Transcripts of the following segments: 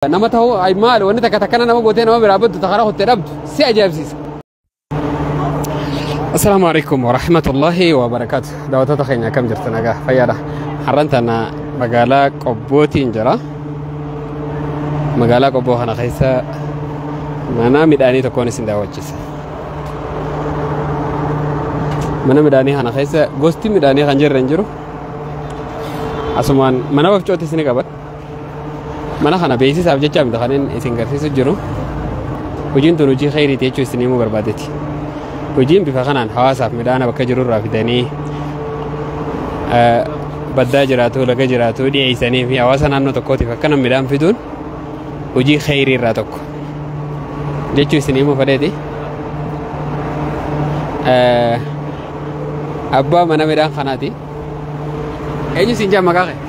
Nama ta'uu ay maal wanni takka takkana nama gootee nama biraa baddu takara kutte dhabdu si ajaa'ibsiisa. Assalaamu alaikum warahmatullahi wabarakaatu. Daawwattoota keenya akkam jirtu nagaa fayyaadha. Har'an tana magaalaa Qobbootiin jira. Magaalaa Qobboo kana keessa mana midhaanii tokkoon isin daawwachiisa. Mana midhaanii kana keessa gosti midhaanii kan jirre hin jiru. Asumaan mana wafcooti isin qaban. Mana kana beeksisaaf jecha miti kan inni isin garsiisu jiru. Hojiin tun hojii kheyriiti jechuu isin himuu barbaadeeti. Hojiin bifa kanaan hawaasaaf midhaana bakka jiru irraa fidanii eh, baddaa jiraatu, laga jiraatu dhiyeessanii fi hawaasa naannoo tokkootiif akkana midhaan fiduun hojii kheyrii irraa tokko. Jechuu isin himuu fedheeti. Eh, Abbaa mana midhaan kanaati. Eenyu isin jaa maqaa kee?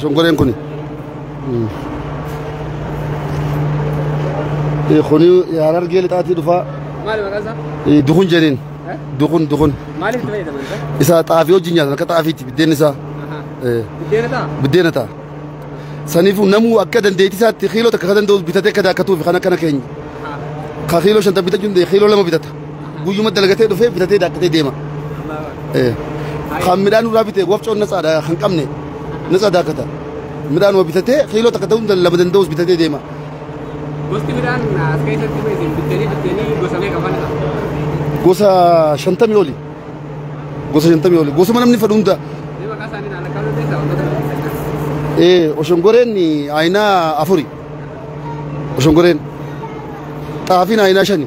Shonkoreen kuni. Kuni harargee lixaatii dhufaa. Maali maqaan isaa? Dukun jedheen. Dukun dukun. Maaliif itti fayyadaman isaa? Isa xaafii wajjin nyaatan akka xaafiitti biddeen isaa. Buddeena ta'a? Buddeena ta'a. Saniifuu namuu akka dandeettii isaatti kiiloo takka kan danda'u bitatee akka daakkatuufi kan akkana keenya. Ka kiiloo shanta bitachuu danda'e kiiloo lama bitata. guyyuma dalagatee dhufee bitatee daakkatee deema. Eh, Kan midhaan irraa bitee wafcoon natsaadha kan qabne natsaa daakkata. Midhaan waa bitatee kiiloo takka ta'uu lama danda'us bitatee deema. Gosti midhaan as keessatti isin bittanii bittanii gosa meeqa faana qaba? Gosa shantamii oli. Gosa shantamii oli. Gosuma namni fedhu hunda. Mee maqaa isaanii naan akka lolteessa wantoota lolteessa. Eh, oshongoreen ayinaa afuri. Oshongoreen xaafiin ayinaa shani.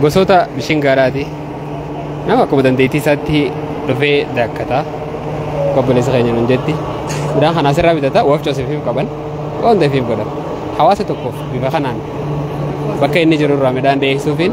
gosoota bishaan gaaraati nama akkuma dandeettii isaatti dhufee daakkata obboleessa keenya nun jetti midhaan kana asirraa bitata waafcha oseefiif qaban waan hundafiif godhan hawaasa tokkoof bifa kanaan bakka inni jiru irraa midhaan dhiyeessuufiin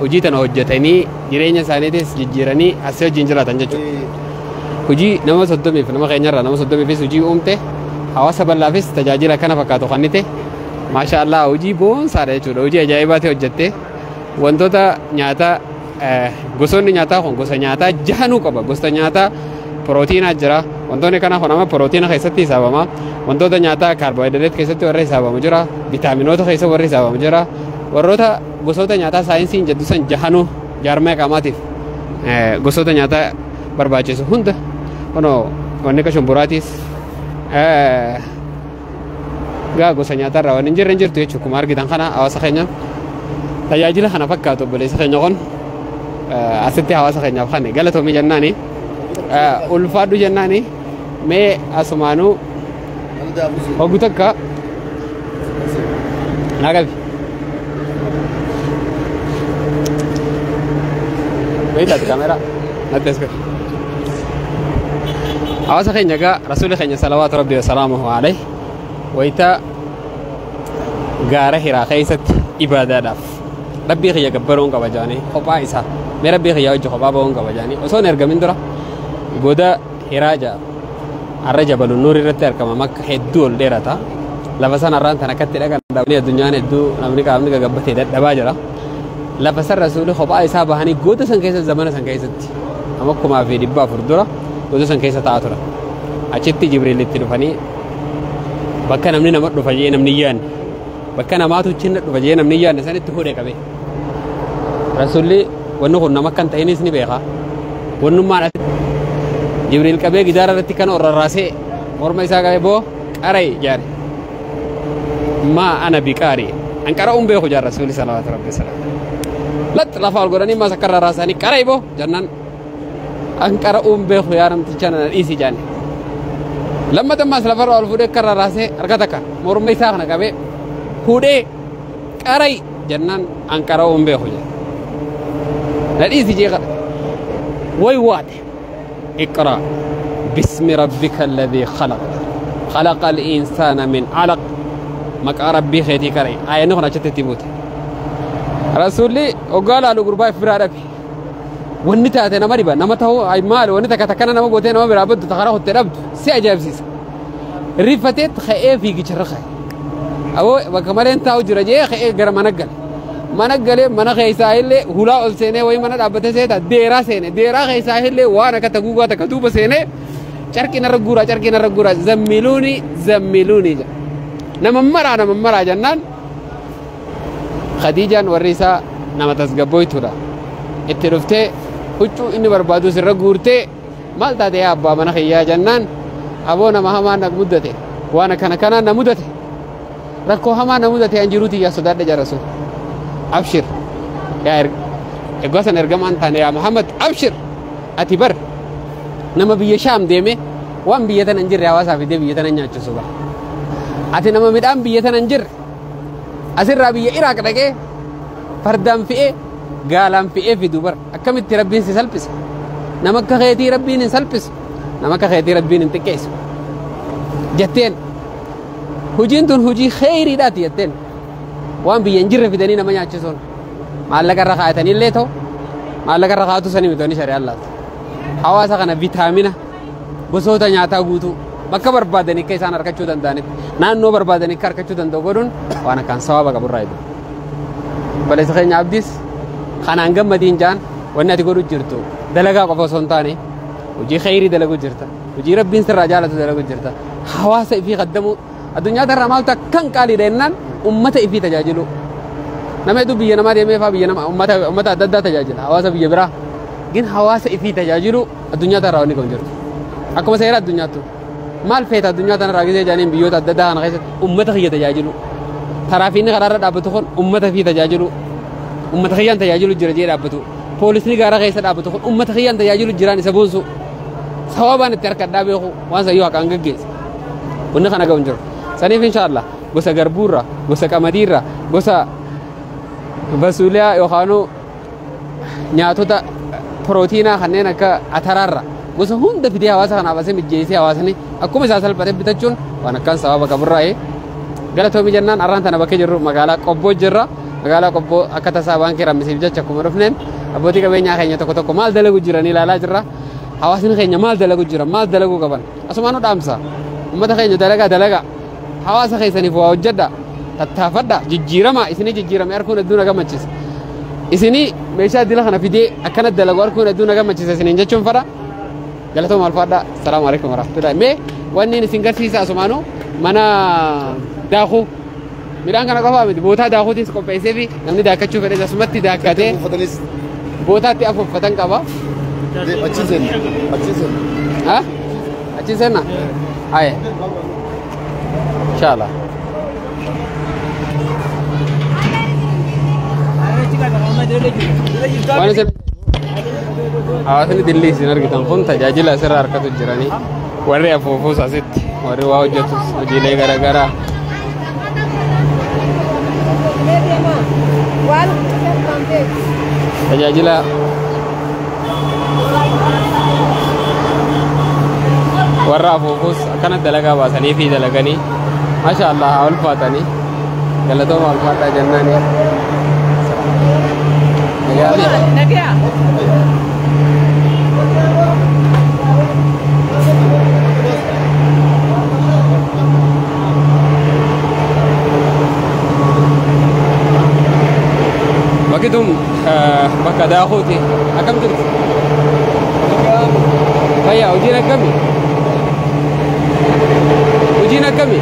hojii tana hojjetanii jireenya isaaniitis jijjiiranii asii wajjin jiraatan jechuudha. Hojii nama soddomiif nama keenyarraa nama soddomiifis hojii uumte hawaasa bal'aafis tajaajila kana fakkaatu kennite maashaa Allah hojii boonsaadha jechuudha hojii ajaa'ibaati hojjette wantoota nyaataa eh, gosoonni nyaataa kun gosa nyaataa jahanuu qaba gosa nyaataa pirootiinaa jira wantoonni kana kun amma pirootiina keessatti hisaabama wantoota nyaataa kaarboohayidireet keessatti warra hisaabamu jira vitaaminoota keessa warra hisaabamu jira warroota Gosoota nyaataa saayinsiin jedhu san jahanuu jaarmaya qaamaatiif gosoota nyaataa barbaachisu hunda kunoo wanni akka shumburaatiis gaa gosa nyaataa irraa waan hin jirre hin jirtu jechuudha akkuma argitan kana hawaasa keenya tajaajila kana fakkaatu obboleessa keenya kun asitti hawaasa keenyaaf kan galatoomii jennaani ulfaadhu jennaani mee asumaanuu Oggu takka naa qabi. Beektaati kaameeraa natti as qabi. Hawaasa keenya egaa rasuulli keenya salawaatu rabbi wasalaamuhu alayhi wayita gaara hiraa keessatti ibaadaadhaaf rabbii kiyya gabbaruun qaba jedhanii kophaa isaa mee rabbii kiyya wajji kophaa ba'uun qaba jedhanii osoo hin ergamin dura goda Hiraa 6. Arra jabalu Nuur irratti argama makka hedduu ol dheerata. Lafa san arraan tan akkatti dhaqan dhabanii addunyaan hedduu namni qaamni gagabbatee dadhabaa jira. Lafa san rasuuli kophaa isaa bahanii goota san keessa zamana san keessatti amma kumaa fi dhibba afur dura goota san keessa taa'aa turan. Achitti Jibriil itti dhufanii bakka namni nama dhufa jee namni yaanne bakka namaatu chinna dhufa jee namni yaanne sanitti hudhe qabee. Rasuulli wanni kun nama akka hin ta'inis ni beeka. Wannummaan as Jibriil qabee gidaara irratti kan rarraasee morma isaa qabee boo qara'i jaare. Maa ana biqaari. An qara'uun beeku jaara Rasuulli salawaatu rabbi salaam. Lax lafa ol godhanii maas akka rarraasanii qara'i boo jannaan. An qara'uun beeku yaa namticha nana dhiisi jaani. Lammata maas lafarra ol fuudhee akka rarraasee harka takka morma isaa kana qabee fuudhee Qara'i jennaan an qara'uu hin beeku jedhe. Na dhiisi jee kadhate. Way waate. Iqraa. Bismi rabbika alladhii khalaq. Khalaqa al-insaana min alaq. Maqaa rabbii keetii qara'i. Aayanni kun achitti itti buute. Rasuulli oggaa laalu gurbaa if biraa dhabe. Wanni taate nama dhiba. Nama ta'uu maali wanni takka takkana nama gootee nama biraa baddu takara kutte dhabdu si ajaa'ibsiisa. Rifateetti ka'ee fiigicharra ka'e. Aboo bakka malee hin taa'u jira jee ka'ee gara mana gale. Mana galee mana keessaa illee hulaa ol seenee wayii mana dhaabbatee seeta deeraa seene. Deeraa keessaa illee waan akka taguugaa takka duuba seenee carqii narra guuraa carqii narra guuraa zammiluuni zammiluuni jedha. Nama maraa nama maraa jennaan Khadiijaan warri isaa nama tasgabbooytuudha. Itti dhuftee huccuu inni barbaadu sirra guurtee Maal taate yaa abbaa mana kiyyaa jennaan aboo nama hamaa na muddate waan akkana kanaan na mudate rakkoo hamaa na mudate an jiruu tiyyaa sodaadha jarasu abshir yaa erga egaa san ergamaan taane yaa Muhammad abshir ati bar nama biyya shaam deeme waan biyya tana hin jirre hawaasaa fidee biyya tana nyaachisu bara ati nama midhaan biyya tana hin jirre asirraa biyya Iraaq dhaqee fardaan fi'ee gaalaan fi'ee fidu bara Akkamitti Rabbiin si salphisa? Nama akka keetii Rabbiin hin salphisu. Nama akka keetii Rabbiin hin xiqqeessu. Jetteen. Hojiin tun hojii kheyriidhaati jetteen. Waan biyya hin jirre fidanii nama nyaachisuun. Maallaqa irra kaa'atanii illee ta'u. Maallaqa irra kaa'atu sanii miti wanni shari'aan laatu. Hawaasa kana vitaamina gosoota nyaataa guutuu bakka barbaadan akka isaan argachuu danda'anitti naannoo barbaadan akka argachuu danda'u godhuun waan akkaan sawaaba qabu irraa eegamu. Balleessa keenya abdiis kanaan gammadiin jaan wanni ati godhu jirtu dalagaa qofa osoo hin taane hojii kheyrii dalaguu jirta hojii rabbiin sirraa jaalatu dalaguu jirta hawaasa ifii qaddamuu addunyaa tarraa maaltu akkan qaaliidha jennaan ummata ifii tajaajiluu nama hedduu biyya namaa deemee faa biyya nama ummata ummata adda addaa tajaajila hawaasa biyya biraa gin hawaasa ifii tajaajiluu Addunyaa tanarraa wanni kun jirtu. Akkuma seera addunyaattu. Maal feeta addunyaa tanarraa gisee jedhaniin biyyoota adda addaa kana keessatti uummata kiyya tajaajilu. Taraafiinni karaarra dhaabbatu kun uummata fi tajaajilu. Uummata kiyyaan tajaajilu jira jee dhaabbatu. Poolisni gaara keessa dhaabbatu kun uummata kiyyaan tajaajilu jiraan isa boonsu. Sababaan itti harkadhaa beeku waan sayyoo haqaan gaggeessa. Wanni kana ga'u hin jiru. Saniif inshaallah gosa garbuurra, gosa qamadiirra, gosa basuuliyaa yookaanuu nyaatota pirootiinaa kanneen akka ataraarra gosa hunda fidee hawaasa kanaaf asii mijjeessee hawaasni akkuma isaa salphatee bitachuun waan akkaan sababa qaburraa'ee galatoomii jennaan arraan tana bakkee jirru magaalaa qobboo jirra magaalaa qobboo akka tasaa waan kiramisiif jecha akkuma dhufneen abbootii qabeenyaa keenya tokko tokko maal dalagu jiran ilaalaa jirra hawaasni keenya maal dalagu jiran maal dalagu qaban asumaan nu dhaamsa ummata keenya dalagaa dalagaa Hawaasa keessaniif waa hojjedha. Tattaafadha. Jijjiirama. Isinii jijjiirame arguun hedduu na gammachiisa. Isinii meeshaa dila kana fidee akkana dalagu arguun hedduu na gammachiisa isiniin jechuun fadha. Galatooma alfaadha. Salaamu alaikum warahmatullahi. Mee wanni isin garsiisa asumaanuu mana daakuu midhaan kana qofaa miti bootaa daakuutis qopheessee fi namni daakkachuu fedhes asumatti daakkatee Uffatanis bootaatti afuuffatan qaba. achiin seenna. Achiin seenna. Ha? Achi seenna? Aye. Inshallah. Waan isin hawaasni dillii isin argitan kun tajaajila asirraa harkatu jiranii warri afuufuus asitti warri waa hojjetus hojiilee garaagaraa Tajaajila warra afuufus akkana dalagaa baasanii fi dalaganii masha allah haa ulfaatanii galatooma ulfaadhaa jennaanii Nagaya. Bakki tun Bakka daakuuti. Akkam jirtu? Fayyaa hojiin akkami? Hojiin akkami?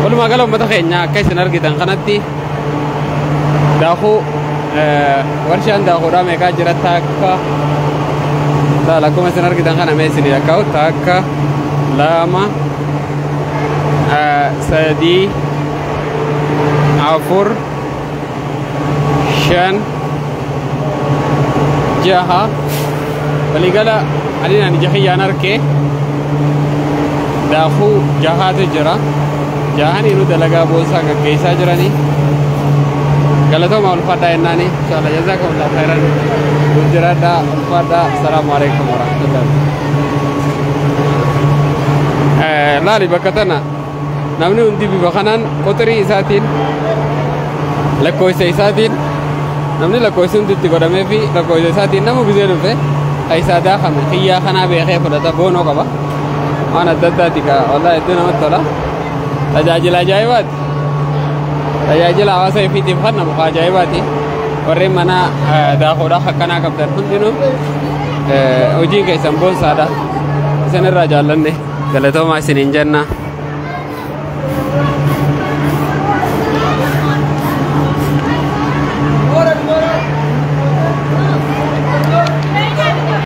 Walumaa gala uummata keenya akka isin argitan kanatti daakuu warshaan daakuudhaa meeqaa jira takka laala akkuma isin argitan kana mee isin lakkaa'u takka lama sadii afur shan jaha waligala ani naan ija kiyyaan arke daakuu jahaatu jira jahaniinu dalagaa boonsaa gaggeessaa jiranii galatoma ulfaadhaa jennaani inshaalla jazaa kamulaa khairan nuuf jiraadhaa ulfaadhaa asalaamu alaikum warahmatullahi laali bakka tana Namni hundi bifa kanaan quxirii isaatiin lakkoofsa isaatiin namni lakkoofsi hundi itti godhamee fi lakkoofsa isaatiin nama bisee dhufe keessaa daakame xiyyaa kanaa beekee fudhata boonoo qaba. Waan adda addaati kaa wallaahi hedduu namatti tola. Tajaajila ajaa'ibaati. Tajaajila hawaasa ifiitiif kan namu kaa ajaa'ibaati. Warreen mana eh, daakuudhaaf akkanaa qabdan hundinuu eh, hojiin keessan boonsaadha. Isin irraa jaallanne. Galatoomaa isiniin jenna.